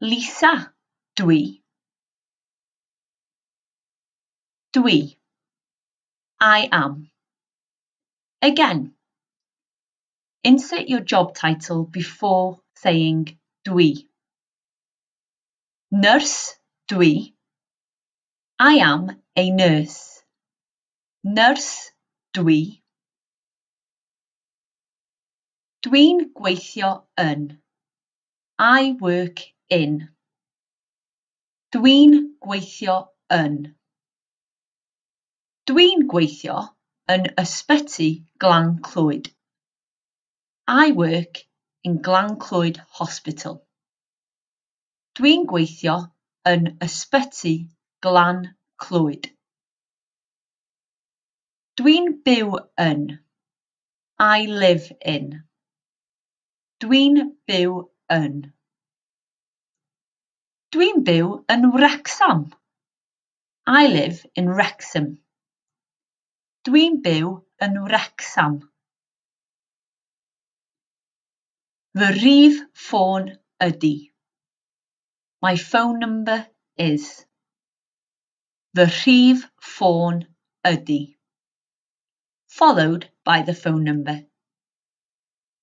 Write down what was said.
Lisa, Dwi. Dwi. I am. Again. Insert your job title before saying dwi. Nurse, dwi. I am a nurse. Nurse, dwi. Dwi'n gweithio yn. I work in. Dwi'n gweithio yn. Dwi'n gweithio yn Ysbyty Glan Clwyd. I work in Glan Clwyd Hospital. Dwi'n gweithio yn Ysbyty Glan Clwyd. Dwi'n byw yn. I live in. Dwi'n byw yn. Dwi'n byw yn Wrecsam. I live in Wrexham. Dwi'n byw yn Wrecsam. Fy rhif ffôn ydy. My phone number is. Fy rhif ffôn ydy. Followed by the phone number.